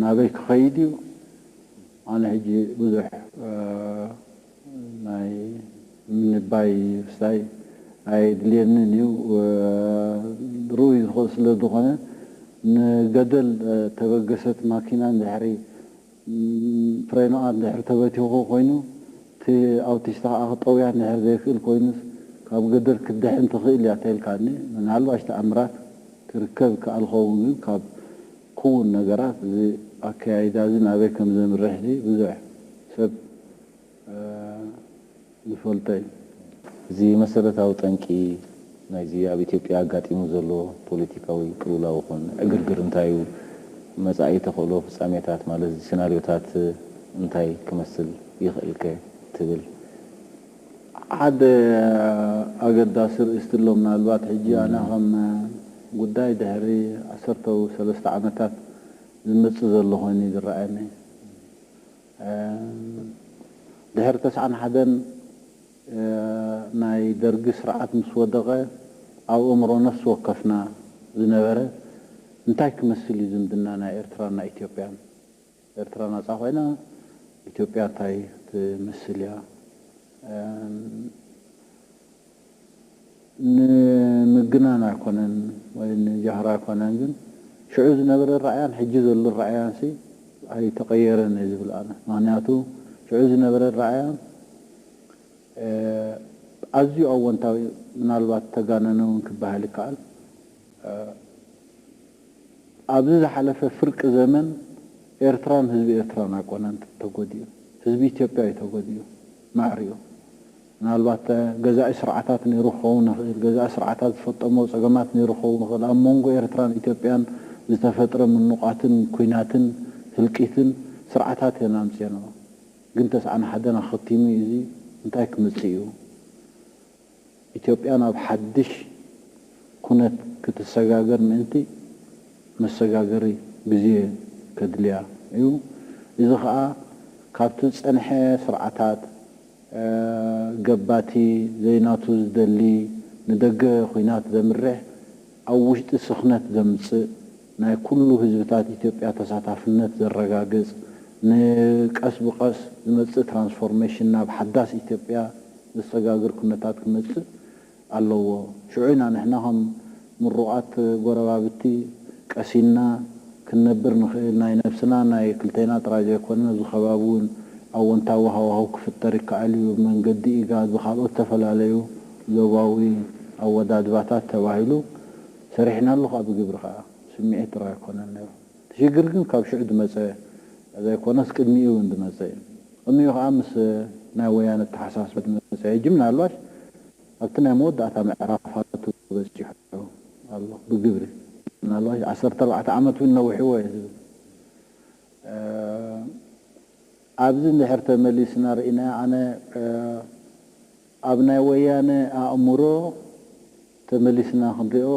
ናበይ ክኸይድ እዩ ኣነ ሕጂ ብዙሕ ናይ ምንባይ ርስታይ ኣየድልየንን እዩ ርኡይ ስለ ዝኾነ ንገደል ተበገሰት ማኪና እንድሕሪ ፍሬኖኣ እንድሕሪ ተበቲኹ ኮይኑ እቲ ኣውቲስታ ከኣ ክጠውያ እንድሕር ዘይክእል ኮይኑስ ካብ ገደል ክትድሕን ትኽእል እያ ተልካኒ ምናልባሽ ተኣምራት ክርከብ ይከኣል ክኸውን ግን ካብ ክውን ነገራት እዚ ኣከያይዳ እዚ ናበይ ከም ዘምርሕ እዚ ብዙሕ ሰብ ዝፈልጦ እዩ። እዚ መሰረታዊ ጠንቂ ናይዚ ኣብ ኢትዮጵያ ኣጋጢሙ ዘሎ ፖለቲካዊ ቅልውላው ይኹን ዕግርግር እንታይ'ዩ? መጻኢ ተኽእሎ ፍጻሜታት ማለት'ዚ ስናርዮታት እንታይ ክመስል ይኽእል'ከ ትብል? ሓደ ኣገዳሲ ርእይስቲ'ሎ ምናልባት ሕጂ ኣነ ከም ጉዳይ ድሕሪ ዓሰርተው ሰለስተ ዓመታት ዝመጽእ ዘሎ ኮይኑ'ዩ ዝረኣየኒ። ድሕሪ ተስዓን ሓደን፣ ናይ ደርጊ ስርዓት ምስ ወደቐ ኣብ ኣእምሮ ነፍሲ ወከፍና ዝነበረ እንታይ ክመስል እዩ ዝምድና ናይ ኤርትራን ናይ ኢትዮጵያን? ኤርትራ ናጻ ኮይና ኢትዮጵያ እንታይ ትመስል እያ? ንምግናን ኣይኮነን ወይ ንጃህራ ኣይኮነን ግን ሽዑ ዝነበረ ኣራእያን ሕጂ ዘሎ ኣራእያንሲ ኣይተቀየረን እየ ዝብል ኣነ ምክንያቱ ሽዑ ዝነበረ ኣራእያ ኣዝዩ ኣወንታዊ ምናልባት ተጋነነ ውን ክበሃል ይከኣል ኣብዚ ዝሓለፈ ፍርቂ ዘመን ኤርትራን ህዝቢ ኤርትራን ኣይኮነን ተጎዲኡ ህዝቢ ኢትዮጵያ እዩ ተጎዲኡ ማዕሪኡ ምናልባት ገዛኢ ስርዓታት ነይሩ ክኸውን ይኽእል፣ ገዛኢ ስርዓታት ዝፈጠሞ ጸገማት ነይሩ ክኸውን ይኽእል፣ ኣብ ሞንጎ ኤርትራን ኢትዮጵያን ዝተፈጥረ ምኑቛትን ኩናትን ህልቂትን ስርዓታት እየን ኣምጺኤንኦ። ግን ተስዓን ሓደን ኣኸቲሙ እዩ እዚ እንታይ ክምጽእ እዩ ኢትዮጵያ ናብ ሓድሽ ኩነት ክትሰጋገር ምእንቲ መሰጋገሪ ግዜ ከድልያ እዩ እዚ ከኣ ካብቲ ዝጸንሐ ስርዓታት ገባቲ ዘይናቱ ዝደሊ ንደገ ኹናት ዘምርሕ ኣብ ውሽጢ ስኽነት ዘምጽእ ናይ ኩሉ ህዝብታት ኢትዮጵያ ተሳታፍነት ዘረጋግጽ ን ቀስ ብቀስ ዝመጽእ ትራንስፎርሜሽን ናብ ሓዳስ ኢትዮጵያ ዘሰጋግር ኩነታት ክመጽእ ኣለዎ ሽዑ ኢና ንሕና ከም ምሩቓት ጎረባብቲ ቀሲንና ክንነብር ንኽእል ናይ ነብስና ናይ ክልቴና ጥራይ ዘይኮነ ኣብዚ ከባቢ ውን ኣወንታዊ ሃዋህው ክፍጠር ይከኣል እዩ ብመንገዲ ኢጋድ ብኻልኦት ዝተፈላለዩ ዞባዊ ኣወዳድባታት ተባሂሉ ሰሪሕናሉ ከኣ ብግብሪ ከኣ ስሚዒት ጥራይ ኣይኮነን ነይሩ እቲ ሽግር ግን ካብ ሽዑ ዝመጸ ዘይኮነስ ቅድሚኡ እውን ዝመጸ እዩ። ቅድሚኡ ከኣ ምስ ናይ ወያነ ዝተሓሳሰረ ዝመጸ ሕጂ ምናልባሽ ኣብቲ ናይ መወዳእታ ምዕራፋቱ በጺሑ ኣሎ ብግብሪ ምናልባሽ ዓሰርተ ኣርባዕተ ዓመት እውን ነዊሕዎ እየ ዝብል። ኣብዚ እንድሕር ተመሊስና ርኢናዮ ኣነ ኣብ ናይ ወያነ ኣእምሮ ተመሊስና ክንሪኦ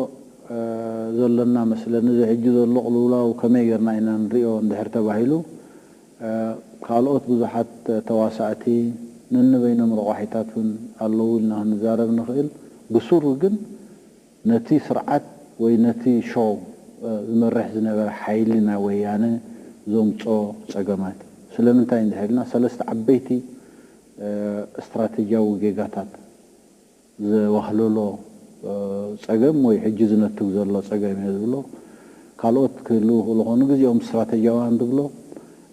ዘሎና መስለኒ። እዚ ሕጂ ዘሎ ቅልውላው ከመይ ጌርና ኢና ንሪኦ እንድሕር ተባሂሉ፣ ካልኦት ብዙሓት ተዋሳእቲ፣ ነንበይኖም ረቋሒታት እውን ኣለዉ ኢልና ክንዛረብ ንኽእል። ብሱሩ ግን ነቲ ስርዓት ወይ ነቲ ሾው ዝመርሕ ዝነበረ ሓይሊ ናይ ወያነ ዘምጽኦ ጸገማት እዩ። ስለምንታይ እንድሕር ኢልና ሰለስተ ዓበይቲ ስትራተጂያዊ ጌጋታት ዘዋህለሎ ጸገም ወይ ሕጂ ዝነትግ ዘሎ ጸገም እየ ዝብሎ። ካልኦት ክህልዉ ይኽእሉ ይኾኑ። ንግዜኦም ስትራተጂያውያን ዝብሎ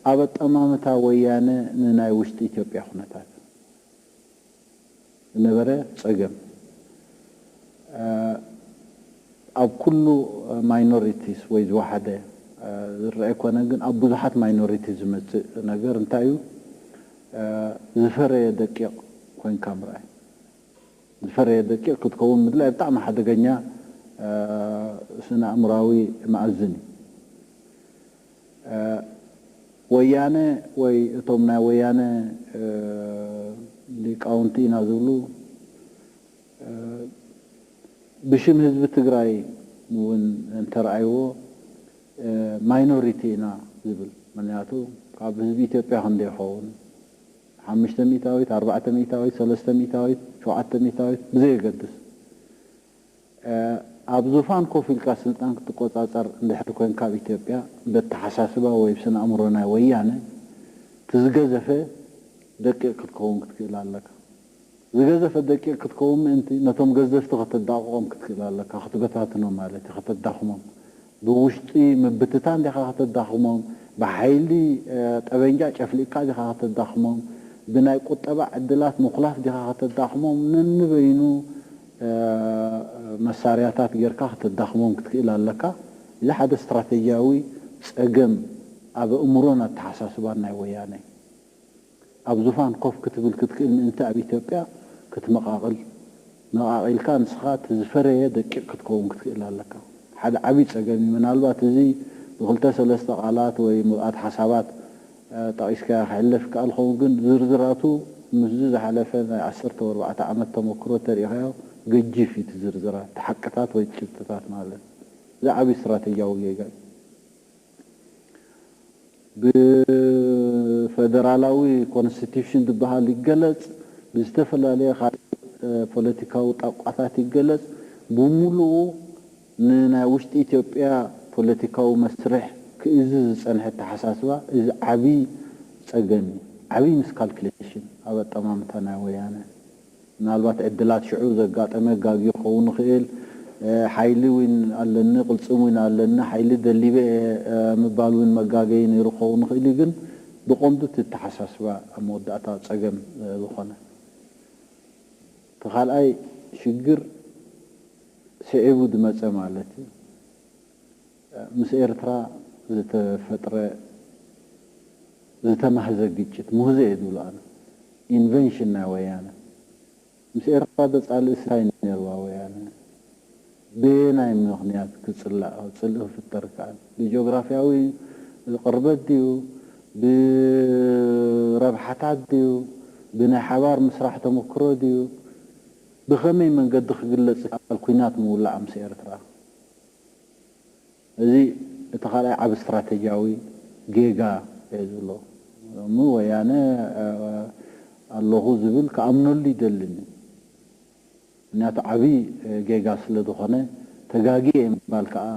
ኣብ ኣጠማምታ ወያነ ንናይ ውሽጢ ኢትዮጵያ ኩነታት ዝነበረ ጸገም ኣብ ኩሉ ማይኖሪቲስ ወይ ዝወሓደ ዝረኣ ኣይኮነን ግን ኣብ ብዙሓት ማይኖሪቲስ ዝመጽእ ነገር እንታይ እዩ ዝፈረየ ደቂቕ ኮይንካ ምርኣይ። ዝፈረየ ደቂቕ ክትከውን ምድላይ ብጣዕሚ ሓደገኛ ስነኣእምሮኣዊ መኣዝን እዩ። ወያነ ወይ እቶም ናይ ወያነ ሊቃውንቲ ኢና ዝብሉ ብሽም ህዝቢ ትግራይ እውን እንተርኣይዎ፣ ማይኖሪቲ ኢና ዝብል ምንያቱ ካብ ህዝቢ ኢትዮጵያ ክንደይ ይኸውን ሓምሽተ ሚእታዊት ኣርባዕተ ሚእታዊት ሰለስተ ሚእታዊት ሸውዓተ ሚእታዊት ብዘየገድስ ኣብ ዙፋን ኮፍ ኢልካ ስልጣን ክትቆጻጸር እንድሕር ኮንካ ኣብ ኢትዮጵያ በተሓሳስባ ወይ ብስነኣእምሮ ናይ ወያነ ትዝገዘፈ ደቂቅ ክትከውን ክትክእል ኣለካ። ዝገዘፈት ደቂቕ ክትከውን ምእንቲ፣ ነቶም ገዘፍቲ ከተዳቕቖም ክትክእል ኣለካ፣ ክትበታትኖም ማለት እዩ፣ ከተዳኽሞም። ብውሽጢ ምብትታን ዲኻ ከተዳኽሞም? ብሓይሊ ጠበንጃ ጨፍሊቕካ ዲኻ ከተዳኽሞም? ብናይ ቁጠባ ዕድላት ምኹላፍ ዲኻ ከተዳኽሞም? ነንበይኑ መሳርያታት ጌርካ ከተዳኽሞም ክትክእል ኣለካ። እዚ ሓደ ስትራተጂያዊ ጸገም ኣብ ኣእምሮን ኣተሓሳስባን ናይ ወያነ እዩ። ኣብ ዙፋን ኮፍ ክትብል ክትክእል ምእንቲ ኣብ ኢትዮጵያ ክትመቓቕል መቓቒልካ ንስኻ እቲ ዝፈረየ ደቂቕ ክትከውን ክትክእል ኣለካ። ሓደ ዓብይ ፀገም እዩ። ምናልባት እዚ ብክልተ ሰለስተ ቃላት ወይ ምብኣት ሓሳባት ጠቒስካዮ ክሕለፍ ይከኣል ይኸውን ግን ዝርዝራቱ ምስዚ ዝሓለፈ ናይ ዓሰርተ ወርባዕተ ዓመት ተመክሮ እንተሪኢኻዮ ገጂፍ እዩ እቲ ዝርዝራት እቲ ሓቅታት ወይ እቲ ጭብጥታት ማለት እዚ ዓብይ ስትራተጂያዊ ጌጋ እዩ። ብፈደራላዊ ኮንስቲትዩሽን ዝበሃል ይገለፅ፣ ብዝተፈላለየ ካልእ ፖለቲካዊ ጣቋታት ይገለፅ፣ ብሙሉኡ ንናይ ውሽጢ ኢትዮጵያ ፖለቲካዊ መስርሕ ክእዝዝ ዝፀንሐ ኣተሓሳስባ፣ እዚ ዓብዪ ፀገም እዩ። ዓብዪ ሚስካልኩሌሽን ኣብ ኣጠማምታ ናይ ወያነ። ምናልባት ዕድላት ሽዑ ዘጋጠመ ጋግዩ ክኸውን ይኽእል፣ ሓይሊ ውን ኣለኒ ቅልፅም ውን ኣለኒ ሓይሊ ደሊበ እየ ምባል ውን መጋገዪ ነይሩ ክኸውን ይኽእል እዩ ግን ብቐንዱ እቲ ኣተሓሳስባ ኣብ መወዳእታ ፀገም ዝኾነ። እቲ ካልኣይ ሽግር ስዒቡ ዝመፀ ማለት እዩ። ምስ ኤርትራ ዝተፈጥረ ዝተማህዘ ግጭት ሙህዘ እየ ዝብሎ ኣነ ኢንቨንሽን ናይ ወያነ ምስ ኤርትራ ዶ ጻልእሲ ታይ ነርዋ ወያነ በየናይ ምኽንያት ክጽላእ ጽልኢ ክፍጠር ይክኣል ብጆግራፍያዊ ቅርበት ድዩ ብረብሓታት ድዩ ብናይ ሓባር ምስራሕ ተመክሮ ድዩ ብኸመይ መንገዲ ክግለጽ ይክኣል ኩናት ምውላዕ ምስ ኤርትራ። እዚ እቲ ካልኣይ ዓቢ ስትራተጂያዊ ጌጋ እየ ዝብሎ። ሎሚ ወያነ ኣለኹ ዝብል ክኣምነሉ ይደልን እዩ። ምክንያቱ ዓቢ ጌጋ ስለ ዝኾነ ተጋግየ ምባል ከኣ።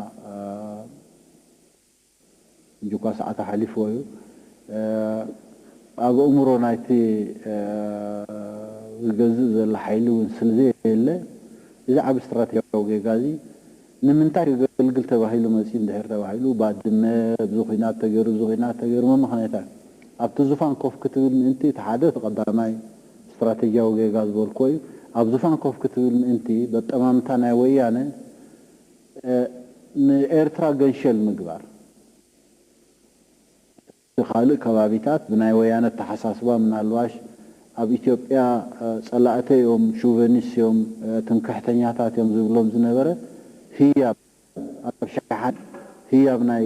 ሕጂኳ ሰዓታ ሓሊፍዎ እዩ። ኣብ ኣእምሮ ናይቲ ዝገዝእ ዘሎ ሓይሊ እውን ስለዘየለ፣ እዚ ዓቢ ስትራቴጂያዊ ጌጋ እዚ ንምንታይ ከገልግል ተባሂሉ መጺኡ እንድሕር ተባሂሉ፣ ባድመ ኣብዚ ኲናት ተገይሩ እዚ ኲናት ተገይሩ መመኽነይታ ኣብቲ ዙፋን ኮፍ ክትብል ምእንቲ እቲ ሓደ እቲ ቀዳማይ ስትራቴጂያዊ ጌጋ ዝበልኩዎ እዩ። ኣብ ዙፋን ኮፍ ክትብል ምእንቲ በጠማምታ ናይ ወያነ፣ ንኤርትራ ገንሸል ምግባር እቲ ካልእ ከባቢታት ብናይ ወያነ ኣተሓሳስባ ምናልባሽ ኣብ ኢትዮጵያ ጸላእተይ ዮም ሹቨኒስ ዮም ትምክሕተኛታት ዮም ዝብሎም ዝነበረ ህያብ ኣብ ሸሓነ ህያብ ናይ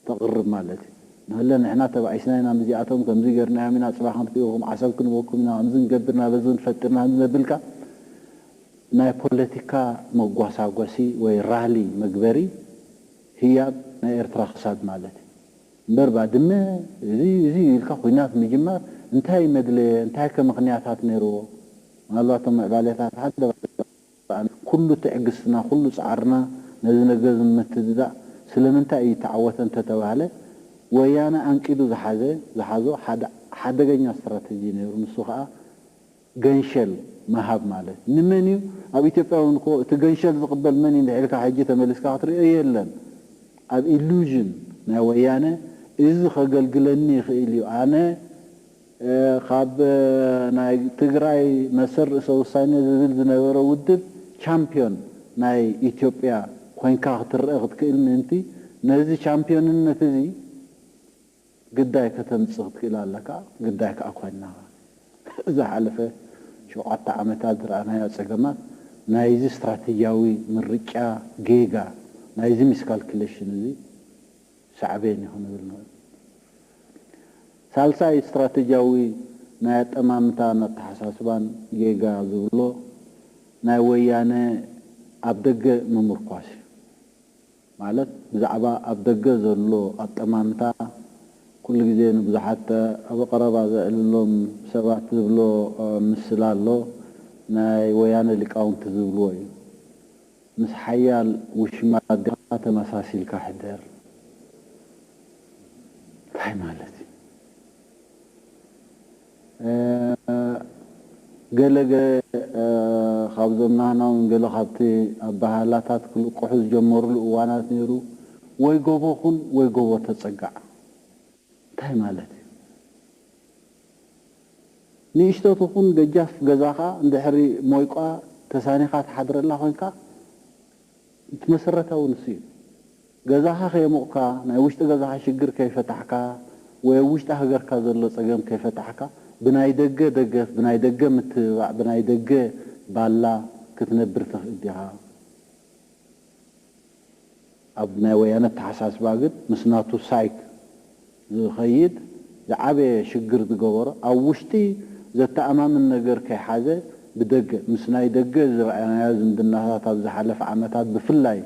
ተቕርብ ማለት እዩ ንህለ ንሕና ተባኢስና ኢና ምዚኣቶም ከምዚ ገርናዮም ኢና ጽባሕ ክንጥኢኹም ዓሰብ ክንበኩም ኢና ከምዚ ንገብር ኢና በዚ ንፈጥርና ከምዚ ነብልካ ናይ ፖለቲካ መጓሳጎሲ ወይ ራሊ መግበሪ ህያብ ናይ ኤርትራ ክሳድ ማለት እዩ እምበር ባድመ እዚ እዚ እዩ ኢልካ ኩናት ምጅማር እንታይ መድለየ እንታይከ ምኽንያታት ነርዎ ምናልባት እቶም ምዕባለታት ሓደ ባዕልኻ ብኣንጻሩ ኩሉ ትዕግስትና ኩሉ ጻዕርና ነዚ ነገር እዚ ንምትድዳእ ስለምንታይ እዩ እተዓወተ እንተተባህለ ወያነ ኣንቂዱ ዝሓዘ ዝሓዞ ሓደ ሓደገኛ ስትራተጂ ነይሩ ንሱ ከኣ ገንሸል ምሃብ ማለት ንመን እዩ ኣብ ኢትዮጵያ ውን እኮ እቲ ገንሸል ዝቅበል መን እዩ እንድሕር ኢልካ ሕጂ ተመሊስካ ክትሪኦ የለን ኣብ ኢሉዥን ናይ ወያነ እዚ ከገልግለኒ ይኽእል እዩ ኣነ ካብ ናይ ትግራይ መሰል ርእሰ ውሳኔ ዝብል ዝነበረ ውድብ ቻምፒዮን ናይ ኢትዮጵያ ኮይንካ ክትረኣ ክትክእል ምእንቲ ነዚ ቻምፒዮንነት እዚ ግዳይ ከተምጽእ ክትክእል ኣለካ። ግዳይ ከኣ ኮይንናኻ። ዝሓለፈ ሸውዓተ ዓመታት ዝረኣናዮ ጸገማት ናይዚ ስትራተጂያዊ ምርጫ ጌጋ ናይዚ ሚስካልኩሌሽን እዚ ሳዕቤን እዩ ክንብል ንኽእል። ሳልሳይ ስትራተጂያዊ ናይ ኣጠማምታን ኣተሓሳስባን ጌጋ ዝብሎ ናይ ወያነ ኣብ ደገ ምምርኳስ እዩ። ማለት ብዛዕባ ኣብ ደገ ዘሎ ኣጠማምታ ኩሉ ግዜ ንብዙሓት ኣብ ቐረባ ዘዕልሎም ሰባት ዝብሎ ምስላ ኣሎ ናይ ወያነ ሊቃውንቲ ዝብልዎ እዩ። ምስ ሓያል ውሽማ ድማ ተመሳሲልካ ሕደር ታይ ማለት እዩ ገለ ገለ ካብዞም ናህና ውን ገለ ካብቲ ኣባሃህላታት ክልቁሑ ዝጀመሩሉ እዋናት ነይሩ ወይ ጎቦ ኩን ወይ ጎቦ ተጸጋዕ እንታይ ማለት እዩ። ንእሽቶ ትኹን ደጃፍ ገዛኻ እንድሕሪ ሞይቋ ተሳኒኻ ትሓድረላ ኮንካ እቲ መሰረታዊ ንሱ እዩ። ገዛኻ ከየሞቕካ፣ ናይ ውሽጢ ገዛኻ ሽግር ከይፈታሕካ ወይ ኣብ ውሽጢ ሃገርካ ዘሎ ጸገም ከይፈታሕካ ብናይ ደገ ደገፍ፣ ብናይ ደገ ምትብባዕ፣ ብናይ ደገ ባላ ክትነብር ትኽእል ዲኻ? ኣብ ናይ ወያነ ኣተሓሳስባ ግን ምስ ናቱ ሳይክ ዝኸይድ ዝዓበየ ሽግር ዝገበሮ ኣብ ውሽጢ ዘተኣማምን ነገር ከይሓዘ ብደገ ምስ ናይ ደገ ዝረኣናዮ ዝምድናታት ኣብ ዝሓለፈ ዓመታት ብፍላይ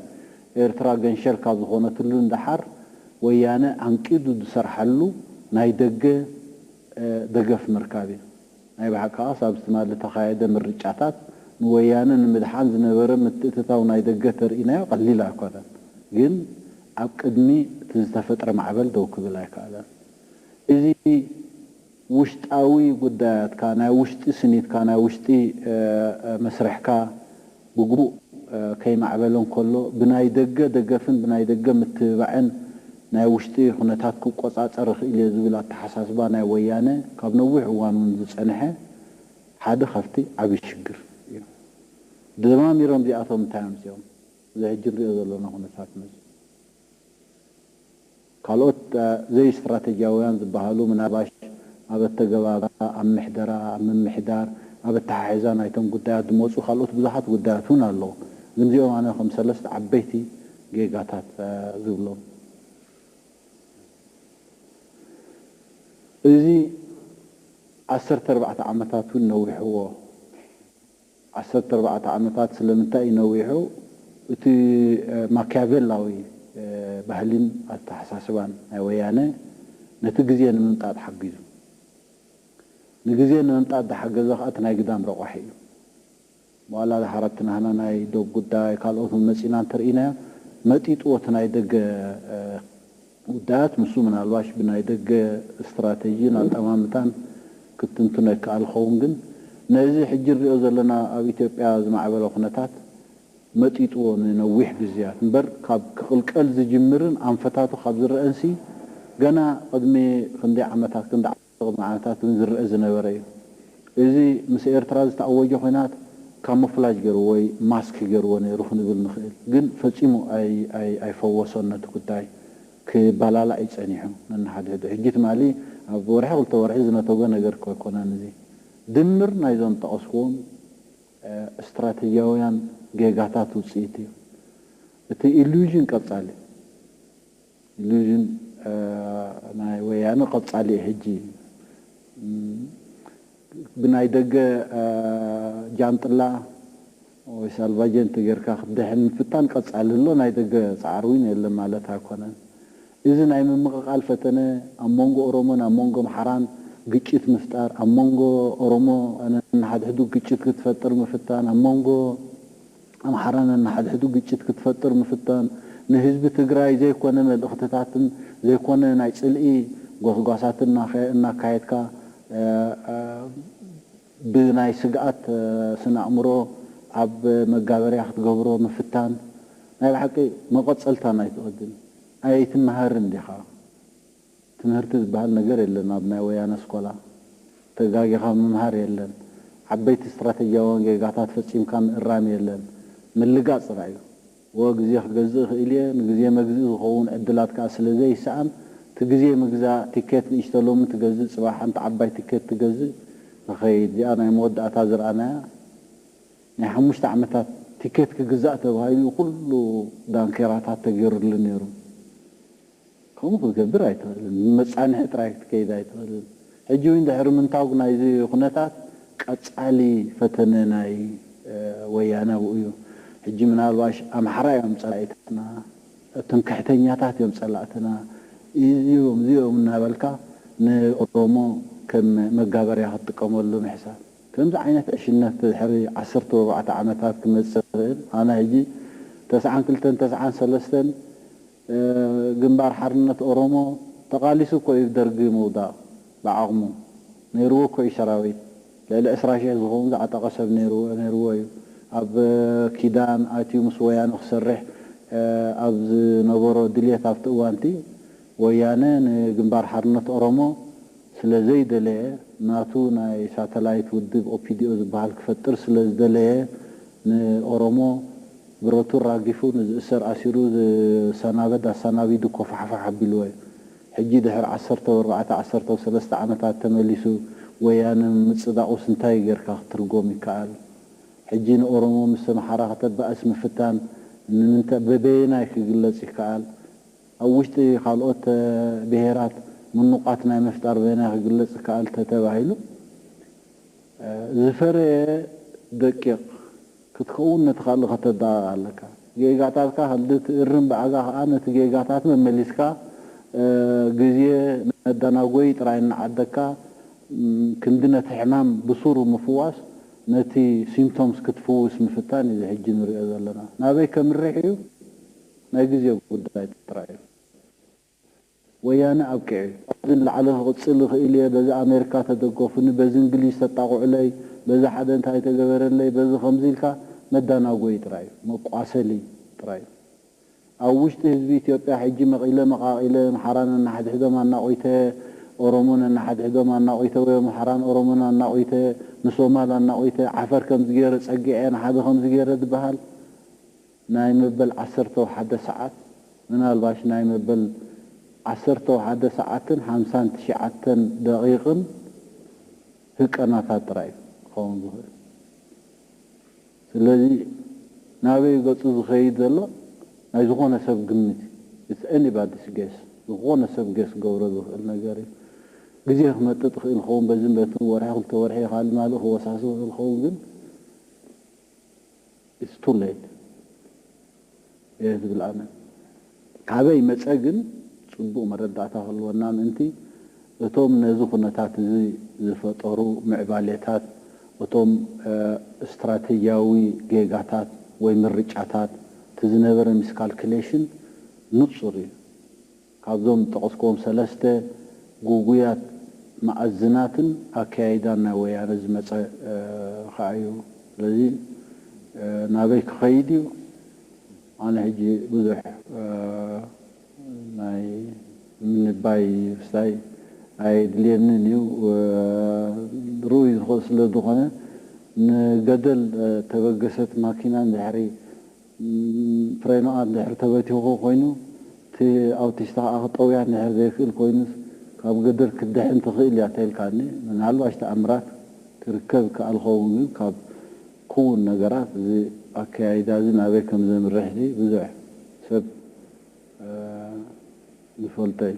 ኤርትራ ገንሸል ካብ ዝኾነትሉ ንደሓር ወያነ ዓንቂዱ ዝሰርሓሉ ናይ ደገ ደገፍ ምርካብ እዩ። ናይ ብሓቅኻስ ኣብቲ ትማሊ እተኻየደ ምርጫታት ንወያነ ንምድሓን ዝነበረ ምትእትታው ናይ ደገ እተርእናዮ ቀሊል ኣይኮነን ግን ኣብ ቅድሚ እቲ ዝተፈጥረ ማዕበል ደው ክብል ኣይከኣለን እዚ ውሽጣዊ ጉዳያትካ ናይ ውሽጢ ስኒትካ ናይ ውሽጢ መስርሕካ ብግቡእ ከይማዕበለ እንከሎ ብናይ ደገ ደገፍን ብናይ ደገ ምትብባዕን ናይ ውሽጢ ኩነታት ክቆፃፀር እኽእል እየ ዝብል ኣተሓሳስባ ናይ ወያነ ካብ ነዊሕ እዋን እውን ዝፀንሐ ሓደ ካብቲ ዓብዪ ሽግር እዩ። ደማሚሮም እዚኣቶም እንታይ ኣምፂኦም? እዚ ሕጂ ንሪኦ ዘለና ኩነታት መፂኡ። ካልኦት ዘይስትራተጂያውያን ዝበሃሉ ምናባሽ ኣብ ኣተገባብራ፣ ኣብ ምሕደራ፣ ኣብ ምምሕዳር፣ ኣብ ኣተሓሕዛ ናይቶም ጉዳያት ዝመጹ ካልኦት ብዙሓት ጉዳያት እውን ኣለዉ። ግን እዚኦም ኣነ ከም ሰለስተ ዓበይቲ ጌጋታት ዝብሎም። እዚ ዓሰርተ ኣርባዕተ ዓመታት እውን ነዊሕዎ። ዓሰርተ ኣርባዕተ ዓመታት ስለምንታይ እዩ ነዊሑ? እቲ ማክያቬላዊ ባህሊን ኣተሓሳስባን ናይ ወያነ ነቲ ግዜ ንምምጣጥ ሓጊዙ። ንግዜ ንምምጣጥ ዝሓገዘ ከኣ እቲ ናይ ግዳም ረቋሒ እዩ። ዋላ ሓረግቲ ናህና ናይ ዶብ ጉዳይ ካልኦት እውን መጺእና እንተርኢናዮ መጢጥዎ እቲ ናይ ደገ ጉዳያት ንሱ ምናልባሽ ብናይ ደገ ስትራተጂን ኣጠማምታን ክትትንትኖ ይከኣል ይኸውን ግን ነዚ ሕጂ ንሪኦ ዘለና ኣብ ኢትዮጵያ ዝማዕበለ ኩነታት መጢጥዎ ንነዊሕ ግዝያት እምበር ካብ ክቕልቀል ዝጅምርን ኣንፈታቱ ካብ ዝረኣንሲ ገና ቕድሚ ክንደይ ዓመታት ክንዲ ቅድሚ ዓመታት እውን ዝረኣ ዝነበረ እዩ። እዚ ምስ ኤርትራ ዝተኣወጀ ኹናት ካሞፍላጅ ገይርዎ ወይ ማስክ ገይርዎ ነይሩ ክንብል ንኽእል። ግን ፈጺሙ ኣይፈወሶን ነቲ ጉዳይ። ክባላላእ እዩ ጸኒሑ ነንሓድሕዱ። ሕጂ ትማሊ ኣብ ወርሒ ክልተ ወርሒ ዝነተጐ ነገር እኮ ኣይኮነን እዚ። ድምር ናይዞም ዝጠቐስኩዎም ስትራተጂያውያን ጌጋታት ውጽኢት እዩ። እቲ ኢሉዥን ቀጻሊ እዩ። ኢሉዥን ናይ ወያነ ቀጻሊ እዩ ሕጂ ብናይ ደገ ጃንጥላ ወይ ሳልቫጀንተ ጌርካ ክትድሕን ምፍታን ቀጻሊ ኣሎ ናይ ደገ ጻዕሪ ውን የለን ማለት ኣይኮነን እዚ ናይ ምምቕቓል ፈተነ ኣብ መንጎ ኦሮሞን ኣብ መንጎ ኣምሓራን ግጭት ምፍጣር ኣብ መንጎ ኦሮሞ ነንሓድሕዱ ግጭት ክትፈጥር ምፍታን ኣብ መንጎ ኣምሓራ ነንሓድሕዱ ግጭት ክትፈጥር ምፍታን ንህዝቢ ትግራይ ዘይኮነ መልእኽትታትን ዘይኮነ ናይ ፅልኢ ጎስጓሳትን እናካየድካ ብናይ ስግኣት ስነኣእምሮ ኣብ መጋበርያ ክትገብሮ ምፍታን ናይ ብሓቂ መቐፀልታ ናይቲ ቅድም ኣይትመሃርን ዲኻ? ትምህርቲ ዝባሃል ነገር የለን ኣብ ናይ ወያነ ኣስኮላ ተጋጊኻ ምምሃር የለን ዓበይቲ ስትራተጂያውያን ጌጋታት ፈጺምካ ምእራም የለን ምልጋጽ ጥራይ እዩ። እወ ግዜ ክገዝእ እኽእል እየ ንግዜ መግዝኢ ዝኸውን ዕድላት ከኣ ስለ ዘይሰኣን እቲ ግዜ ምግዛእ ቲኬት ንእሽቶ ሎሚ ትገዝእ ጽባሕ ሓንቲ ዓባይ ቲኬት ትገዝእ ንኸይድ እዚኣ ናይ መወዳእታ ዝረኣናያ ናይ ሓሙሽተ ዓመታት ቲኬት ክግዛእ ተባሂሉ እዩ ኩሉ ዳንኬራታት ተጌሩሉ ኔሩ። ከምኡ ክትገብር ኣይትኽእልን። ብመጻንሒ ጥራይ ክትከይድ ኣይትኽእልን። ሕጂ ውን ድሕሪ ምንታግ ናይዚ ኩነታት ቀጻሊ ፈተነ ናይ ወያነ ኣብኡ እዩ። ሕጂ ምናልባሽ ኣምሓራ እዮም ጸላኢታትና፣ ትምክሕተኛታት እዮም ጸላእትና፣ እዚኦም እዚኦም እናበልካ ንኦሮሞ ከም መጋበርያ ክትጥቀመሉ ምሕሳብ። ከምዚ ዓይነት ዕሽነት ድሕሪ ዓሰርተ ወርባዕተ ዓመታት ክመጽእ ዝኽእል ኣነ ሕጂ ተስዓን ክልተን ተስዓን ሰለስተን ግንባር ሓርነት ኦሮሞ ተቃሊሱ እኮ እዩ ደርጊ ምውዳቅ ብዓቅሙ ነይርዎ እኮ እዩ ሰራዊት ልዕሊ ዕስራ ሽሕ ዝከውን ዝዓጠቀ ሰብ ነይርዎ እዩ ኣብ ኪዳን ኣትዩ ምስ ወያነ ክሰርሕ ኣብ ዝነበሮ ድልየት ኣብቲ እዋንቲ ወያነ ንግንባር ሓርነት ኦሮሞ ስለ ዘይደለየ ናቱ ናይ ሳተላይት ውድብ ኦፒዲኦ ዝብሃል ክፈጥር ስለ ዝደለየ ንኦሮሞ ብረቱ ኣራጊፉ ንዝእሰር ኣሲሩ ዝሳናበድ ኣሳናቢዱ ኮፋሕፋሕ ኣቢልወ ሕጂ ድሕሪ ዓሰርተ ወርባዕተ ዓሰርተው ሰለስተ ዓመታት ተመሊሱ ወያነ ምምጽዳቁስ እንታይ ገርካ ክትርጎም ይካኣል ሕጂ ንኦሮሞ ምስ ኣምሓራ ክተባእስ ምፍታን ንምንታይ በበየናይ ክግለጽ ይካኣል ኣብ ውሽጢ ካልኦት ብሄራት ምኑቛት ናይ ምፍጣር በየናይ ክግለጽ ይከኣል ተተባሂሉ፣ ዝፈረየ ደቂቕ ክትከውን ነቲ ካልእ ከተደቓቕ ኣለካ። ጌጋታትካ ካልእ ትእርም ብኣጋ ከኣ ነቲ ጌጋታት መመሊስካ ግዜ መዳናጎዪ ጥራይ እናዓደግካ ክንዲ ነቲ ሕማም ብሱሩ ምፍዋስ ነቲ Symptoms ክትፍውስ ምፍታን እዩ እዚ ሕጂ ንርእዮ ዘለና ናበይ ከምርሕ እዩ። ናይ ግዜ ጉዳይ ጥራይ እዩ። ወያነ ኣብቂዑ'ዩ። ካብዚ ንላዕሊ ክቕጽል ይኽእል'የ፣ በዚ ኣሜሪካ ተደገፉኒ፣ በዚ እንግሊዝ ተጣቕዑለይ፣ በዚ ሓደ እንታይ ተገበረለይ፣ በዚ ከምዚ ኢልካ መዳናጎዪ ጥራይ እዩ። መቋሰሊ ጥራይ እዩ። ኣብ ውሽጢ ህዝቢ ኢትዮጵያ ሕጂ መቒለ መቓቒለ፣ ኣምሓራ ነንሓድሕዶም ኣናቝተ፣ ኦሮሞ ነንሓድሕዶም ኣናቝተ ወይ ኣምሓራን ኦሮሞን ኣናቝተ፣ ንሶማል ኣናቝተ፣ ዓፈር ከምዚ ገይረ ጸጊዐ፣ ንሓደ ከምዚ ገይረ ዝበሃል፣ ናይ መበል ዓሰርተው ሓደ ሰዓት ምናልባሽ ናይ መበል ዓሰርተው ሓደ ሰዓትን ሓምሳን ትሽዓተን ደቂቅን ህቀናታት ጥራይ እዩ ክኸውን ዝኽእል ስለዚ ናበይ እዩ ገጹ ዝኸይድ ዘሎ ናይ ዝኾነ ሰብ ግምት እዩ it's anybody's guess ዝኾነ ሰብ guess ክገብሮ ዝኽእል ነገር እዩ ግዜ ክመጥጥ ይኽእል ይኸውን በዚን በትን ወርሒ ክልተ ወርሒ የካልእ ማልእ ክወሳሰብ ይኽእል ይኸውን ግን It's too late እየ ዝብል ኣነ። ካበይ መጸ ግን ጽቡቕ መረዳእታ ክህልወና ምእንቲ እቶም ነዚ ኩነታት እዚ ዝፈጠሩ ምዕባሌታት እቶም ስትራቴጂያዊ ጌጋታት ወይ ምርጫታት እቲ ዝነበረ ሚስካልክሌሽን ንጹር እዩ። ካብዞም ዝጠቐስክዎም ሰለስተ ግጉያት መኣዝናትን ኣከያይዳን ናይ ወያነ ዝመጸ ከኣ እዩ። ስለዚ ናበይ ክኸይድ እዩ? ኣነ ሕጂ ብዙሕ ናይ ምንባይ ስታይ ኣየድልየንን እዩ። ርኡይ ስለ ዝኾነ ንገደል ተበገሰት ማኪና እንድሕሪ ፍሬናኣ እንድሕር ተበቲኹ ኮይኑ፣ እቲ ኣውቲስታ ከኣ ክጠውያ እንድሕር ዘይክእል ኮይኑስ፣ ካብ ገደል ክትድሕን ትኽእል እያ ተልካኒ። ምናልባሽ ተኣምራት ክርከብ ይከኣል ክኸውን ግን ካብ ክውን ነገራት እዚ ኣከያይዳዚ ናበይ ከም ዘምርሕሲ ብዙሕ ሰብ ዝፈልጦ እዩ።